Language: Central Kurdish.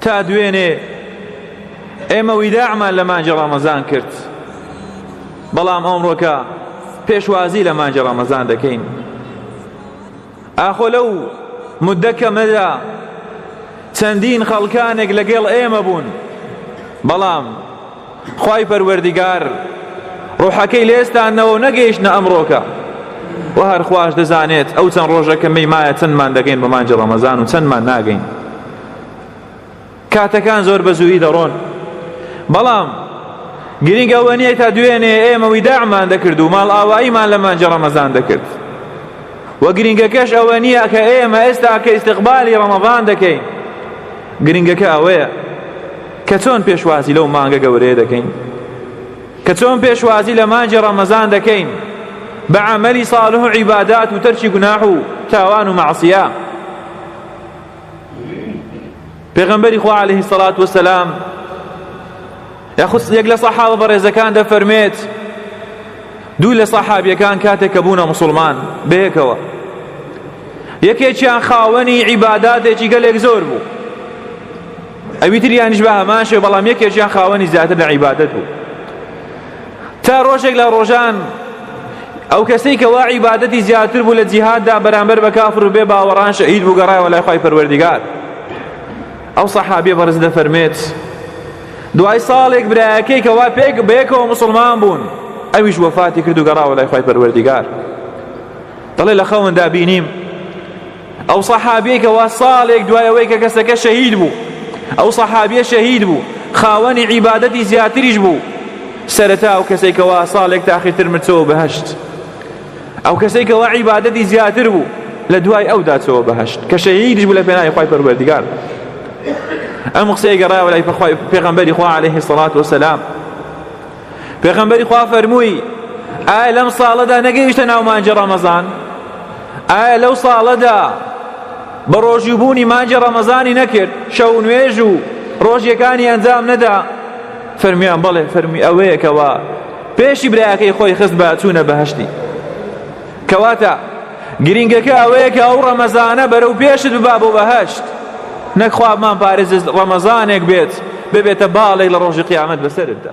تا دوێنێ ئێمە ویداعمان لە مانجی ڕەمەزان کرد بەڵام ئەمڕۆکە پێشوازی لە مانجی ڕەمەزان دەکەین ئاخۆ لەو مدە کەمەدا چەندین خەڵکانێک لەگەڵ ئێمە بوون بەڵام خوای پەروەردگار ڕۆحەکەی لێستانەوە و نەگەیشتە ئەمڕۆکە و هەر خواش دەزانێت ئەو چەند ڕۆژەکە مەیمایە چەندمان دەگەین بە مانجی ڕەمەزان و چەندمان ناگەین کاتەکان زۆر بە زووی دەڕۆن بەڵام گرنگ ئەوە نییە تا دوێنێ ئێمە ویداعمان دەکرد و ماڵ ئاواییمان لە مانجی ڕەمەزان دەکرد و گرنگەکەش ئەوە نییە کە ئێمە ئێستا کە ئیسیقبالی ڕەمەزان دەکەین گرنگەکە ئەوەیە کە چۆن پێشوازی لەو مانگە گەورەیە دەکەین کە چۆن پێشوازی لە مانجی ڕەمەزان دەکەین بە عملی صالح و عیبادات و تەرچی گوناح و تاوان و معسیە پێغەمبەری خوا عليه الصلاة والسلام یاخود یەک لە سەحابە بەڕێزەکان دەفەرمێت دوو لە سەحابیەکان کاتێک کە بوونە مسلمان بەیەکەوە یەکێکیان خاوەنی عیباداتێکی گەلێک زۆر بوو ئەوی تریانیش بە هەمان شێوە بەڵام یەکێکیان خاوەنی زیاتر لە عیبادەت بوو تا ڕۆژێک لە ڕۆژان ئەو کەسەی کە وا عیبادەتی زیاتر بوو لە جیهاددا بەرامبەر بە کافر و بێ باوەڕان شەهید بوو گەڕایەوە لای خۆی پەروەردیگار ئەو سەحابێ بەڕز دەفەرمێت دوای ساڵێک برایەکەی کەوا پێک بەیەکەوە مسلمان بوون ئەویش وەفاتی کرد و گەڕاوە لای خۆی پەروەردیگار دەڵێ لە خەوندا بینیم ئەو سەحابیەی کەوا ساڵێک دوای ئەوەی کە کەسەکە شەهید بوو ئەو سەحابیە شەهید بوو خاوەنی عیبادەتی زیاتریش بوو سەرەتا ئەو کەسەی کەوا ساڵێک تاخیرتر مرچەوە بەهشت ئەو کەسەی کەوا عیبادەتی زیاتر بوو لە دوای ئەو داچەوە بەهشت کە شەهیدیش بوو لە پێناوی خۆی پەروەردگار ئەم قسەی گەڕایەوە لای پێغەمبەری خوا عەلەیهی سەڵات وەسەلام پێغەمبەری خوا فەرمووی ئایا لەم ساڵەدا نەگەیشتە ناو مانجی ڕەمەزان ئایا لەو ساڵەدا بە ڕۆژووبوونی مانجی ڕەمەزانی نەکرد شەو نوێژ و ڕۆژیەکانی ئەنجام نەدا فەرمیان بەڵێ فەرمی ئەوەیەکەوە پێشی برایەکەی خۆی خست بە چوونە بەهشتی کەواتە گرینگەکە ئەوەیە کە ئەو ڕەمەزانە بەرەو پێشت ببا بۆ بەهەشت نەک خوا بمانپارێزێت ڕەمەزانێک بێت ببێتە باڵێک لە ڕۆژی قیامەت بەسەرتدا